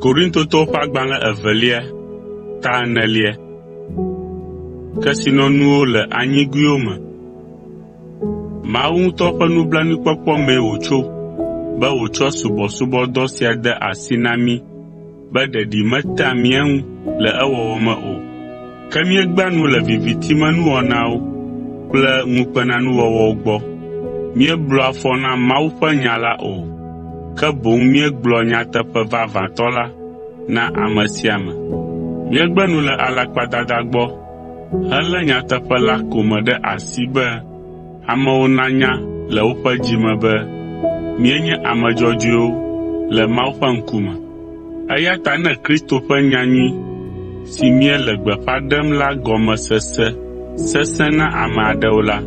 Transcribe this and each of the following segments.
Korintotɔwo ƒe agbalẽ evelia ta enelia. Kesinɔnuwo le anyigoewo me. Mawu ŋutɔ ƒe nublanuikpɔkpɔ mee wòtso be wòtsɔ subɔsubɔdɔ sia de asi na mí. be ɖeɖi metea mía ŋu le ewɔwɔ me o. Ke míegbea nu le viviti me nuwɔnawo kple ŋukpenanuwɔwɔwo gbɔ. Míeblɔa fɔ na Mawu ƒe nya la o, ke boŋ míegblɔa nyateƒe vavãtɔ la na ame sia ame. Míegbe nu le alakpadada gbɔ helé nyateƒe la ko me ɖe asi be, amewo nanya le woƒe dzi me be míenye ame dzɔdzɔewo le Mawu ƒe ŋkume. Eya ta ne Kristo ƒe nyanyui si míele gbeƒã ɖem la gɔme sese sesẽ na ame aɖewo la,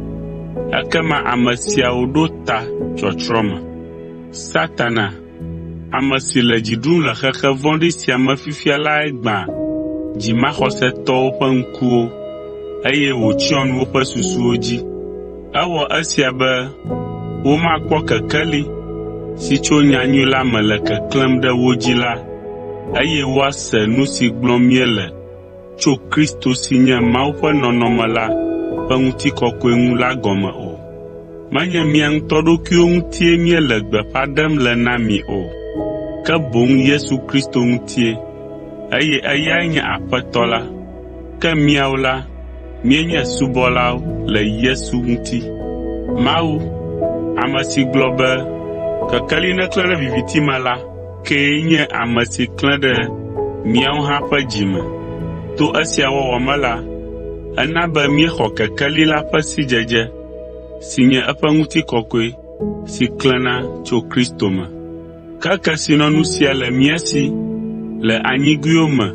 ekema ame siawo ɖo ta tsɔtsrɔ̃ me. Ame si le dzi ɖum le xexe vɔ̃ɖi sia me fifia lae gbã dzimaxɔsetɔwo ƒe ŋkuwo, eye wòtsyɔ nu woƒe susuwo dzi. Ewɔ esia be womakpɔ kekeli si tso nyanyui la me le keklẽm ɖe wo dzi la, eye woase nu si gblɔm míele tso Kristo si nye Mawu ƒe nɔnɔme la ƒe ŋutikɔkɔe ŋu la gɔme o. Menye mía ŋutɔ ɖokuiwo ŋutie míele gbeƒã ɖem le na mi o, ke boŋ Yesu Kristo ŋutie, eye eyae nye Aƒetɔ la, ke míawo la, míenye subɔlawo le Yesu ŋuti. Mawu, ame si gblɔ be, “Kekeli neklẽ ɖe viviti me” la, kee nye ame si klẽ ɖe míawo hã ƒe dzi me. To esia wɔwɔ me la, ena be míexɔ kekeli la ƒe sidzedze, si nye eƒe ŋutikɔkɔe si klẽna tso Kristo me. Ke kesinɔnu sia le mía si le anyigoewo me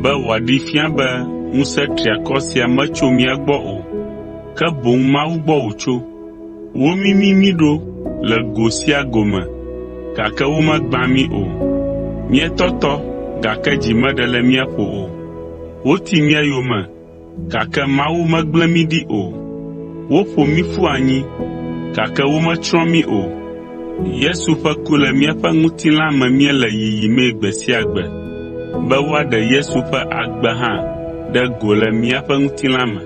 be wòaɖee fia be ŋusẽ triakɔ sia metso mía gbɔ o, ke boŋ Mawu gbɔ wòtso. Womimi mí ɖo le go sia go me, gake womegbã mí o. Míetɔtɔ, gake dzi meɖe le mía ƒo o. Woti mía yome, gake Mawu megblẽ mí ɖi o. Woƒo mí ƒu anyi, gake wometsrɔ̃ mí o. Yesu ƒe ku le míaƒe ŋutilã me míele yiyimee gbe sia gbe, be woaɖe Yesu ƒe agbe hã ɖe go le míaƒe ŋutilã me.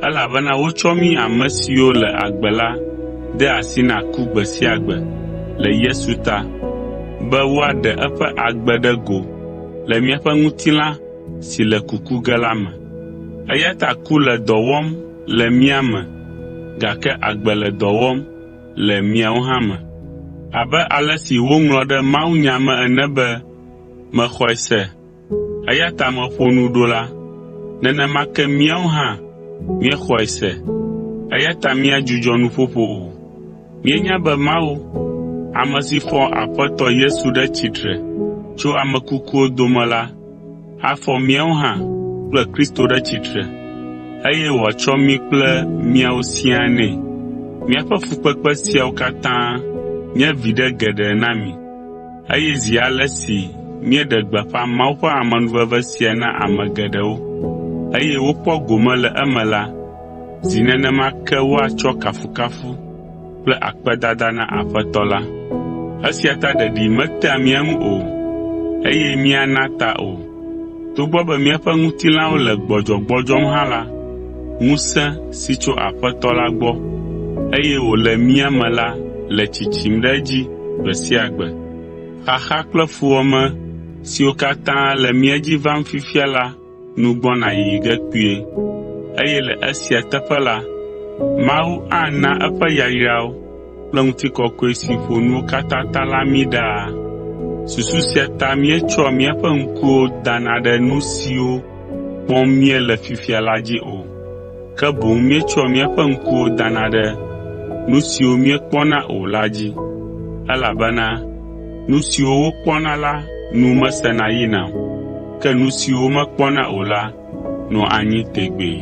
Elabena wotsɔ mí ame siwo le agbe la de asi na ku gbe sia gbe le Yesu ta, be woaɖe eƒe agbe ɖe go le míaƒe ŋutilã si le kuku ge la me. Eya ta ku le dɔ wɔm le mía me, gake agbe le dɔ wɔm le miawo hã me. Abe ale si woŋlɔ ɖe mawunya me ene be, “Mexɔe se, Eya ta meƒo nu ɖo la, nenema ke míawo hã míexɔe se, eya ta míadzudzɔ nuƒoƒo o. Míenya be Mawu, ame si fɔ Aƒetɔ Yesu ɖe tsitre tso ame kukuwo dome la, afɔ míawo hã kple Kristo ɖe tsitre, eye wòatsɔ mí kple miawo siaa nɛ. Míaƒe fukpekpe siawo katã nye viɖe geɖe na mi. Eye zi ale si míeɖe gbeƒã Mawu ƒe amenuveve sia na ame geɖewo, eye wokpɔ gome le eme la, zi nenema ke woatsɔ kafukafu kple akpedada na Aƒetɔ la. Esia ta ɖeɖi metea mía ŋu o, eye míana ta o, Togbɔ be míaƒe ŋutilãwo le gbɔdzɔgbɔdzɔm hã la, ŋusẽ si tso Aƒetɔ la gbɔ, eye wòle mía me la le tsitsim ɖe edzi gbe sia gbe. Xaxa kple fuwɔame siwo katã le mía dzi vam fifia la nu gbɔna yiyi ge kpuie, eye le esia teƒe la, Mawu ana eƒe yayrawo kple ŋutikɔkɔe si ƒo nuwo katã ta la mí ɖaa. Susu sia ta míetsɔa míaƒe ŋkuwo dana ɖe nu siwo kpɔm míele fifia la dzi o, ke boŋ míetsɔa míaƒe ŋkuwo dana ɖe nu siwo míekpɔna o la dzi, elabena nu siwo wokpɔna la nu mesena yina o, ke nu siwo womekpɔna o la nɔa anyi tegbee.